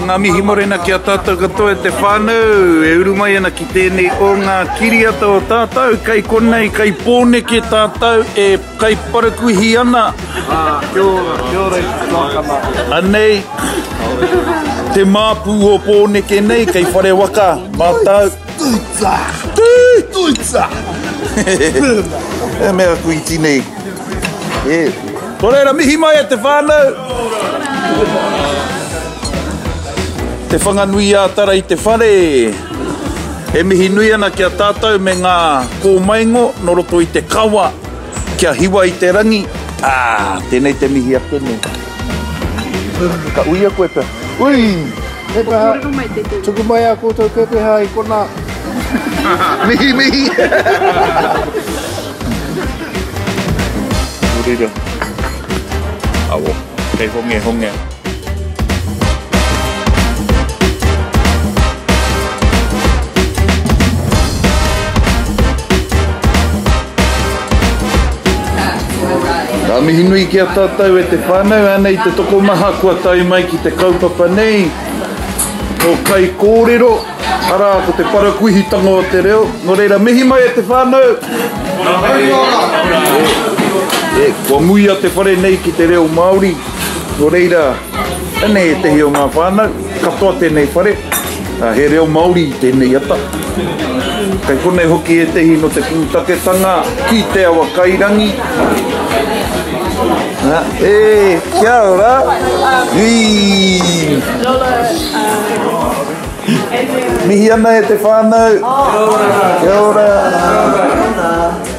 Ngā mihi morena ki a tātou katoa e te whānau, e uru mai ana ki tēnei o ngā kiriata o tātou, kei konei, kei Pōneke tātou e Kai parakuihi ana. Ah, kia ora, kia ora i te tuakana. Anei, te māpū o Pōneke nei, kei whare waka, mātau. Tuitsa! Tuitsa! E mea aku iti nei. E. Ko reira, mihi mai e te whānau. Te Whanganui-ā-Tara i te whare. E mihi nui ana ki a tātou me ngā kōmaingo nō roto i te kawa kia hiwa i te rangi, ā, tēnei te mihi ake nei. Ka uia koe pea. Ui! He kaha, tuku mai ā koutou pepeha i konā. Mihi, mihi! Nō reira, awa, kei hongehongea. Ngā mihi nui ki a tātou e te whānau, ānei te tokomaha kua tae mai ki te kaupapa nei. Ko kai kōrero, arā, ko te parakuihitanga o te reo. Nō reira, mihi mai e te whānau! Kua muia te whare nei ki te reo Māori. Nō reira, tēnei ētehi o ngā whānau, katoa tēnei whare, he reo Māori i tēnei ata. Kei konei hoki ētehi no te pūtaketanga ki Te Awakairangi. Ha, e, kia ora! Hii! Mihi ana e te whānau! Kia ora! Kia ora!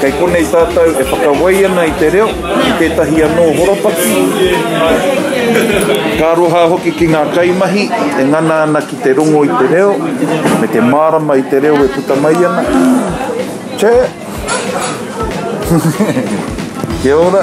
Kei konei tātou e whakawai ana i te reo, i tētahi anō horopaki. Ka aroha hoki ki ngā kaimahi e ngana ana ki te rongo i te reo, me te mārama i te reo e puta mai ana. Tē! Kia ora!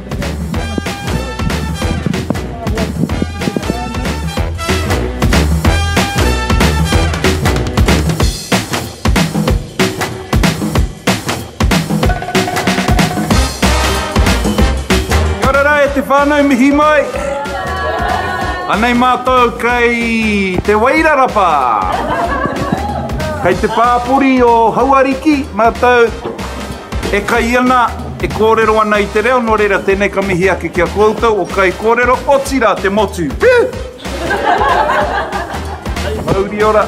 whānau mihi mai. Anei mātou kei Te Wairarapa. Kei te pāpori o Hauariki mātou. E kai ana, e kōrero ana i te reo, nō reira tēnei ka mihi ake ki a kōutou o Kaikōrero, otirā te motu. Whew! Mauri ora!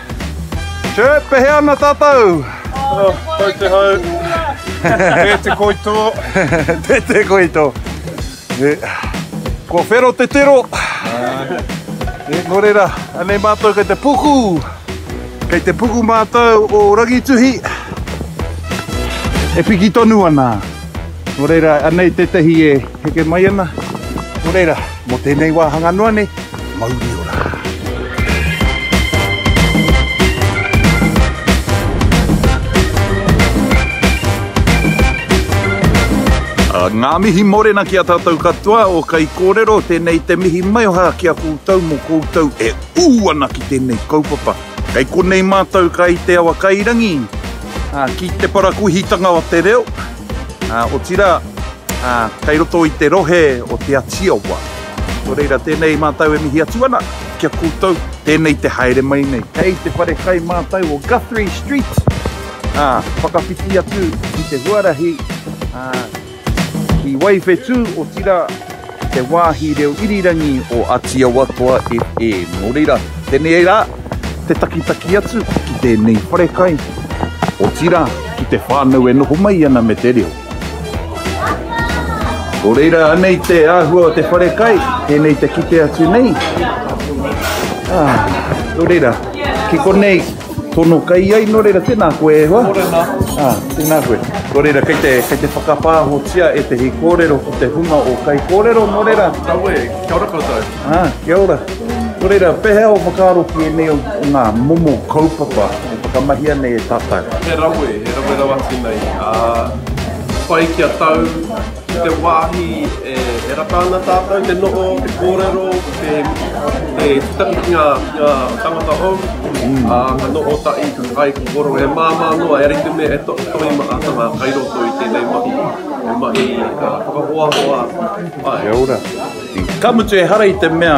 Chirp, e hea ana tātou? Oh, koutou te hau. Tē te koi tō. Tē te koi tō. Kua whero te tero. E, nō reira, anei mātou kei te puku. Kei te puku mātou o Rangituhi. E piki tonu ana. Nō reira, anei tētahi e heke mai ana. Nō reira. Mō tēnei wāhanga noa nei, mauri ora! Ngā mihi mōrena ki a tātou katoa o Kaikōrero, tēnei te mihi maioha ki a koutou mō koutou e ū ana ki tēnei kaupapa. Kei konei mātou kai te awa kairangi, ki te parakuihitanga o te reo, Ā, otirā, ā, kei roto i te rohe o Te Atiawa. Nō reira, tēnei mātou e mihi atu ana ki a koutou, tēnei te haere mai nei. Kei te whare kai mātou o Guthrie Street, ā, whakawhiti atu ki te huarahi, ā, ki Waiwhetū, otirā, te wāhi reo irirangi o Atiawatoa e e. Nō reira, tenei rā te takitaki atu ki tēnei wharekai, otirā ki te whānau e noho mai ana me te reo. Nō reira, anei te āhua o te wharekai, tēnei te kite atu nei. Ā, nō reira, ki konei. Tono kai ai, nō reira, tēnā koe e hoa. Mōrena. Ah, tēnā koe. Nō reira, kei te, kei te whakapāhotia e tehi kōrero ko te hunga o kai kōrero, nō reira. Aue, kia ora koutou. Ah, kia ora. Nō reira, pehea o whakaaro ki ēnei o ngā momo kaupapa e whakamahia nei e tātou? He rawe, he rawe rawa tēnei. Ah, whai kia tau. Ki te wāhi e rata ana tātou te noho, te kōrero, te titaki ki ngā tangata hou, ka noho tahi ai ki koro e māmā noa, e rite me e tohi maha tanga kai roto i tēnei mahi, he mahi ka whakahoahoa ai. Kia ora. Ka mutu ehara i te mea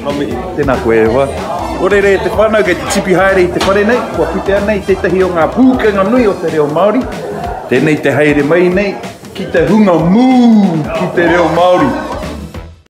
Nga mihi, tena koe e hoa. Ko rere te whanau kei te tipi haere i te whare nei, kua putea nei tetahi o nga pukenga nui o te reo Maori. Tenei te haere mai nei ki te hunga moo ki te reo Maori.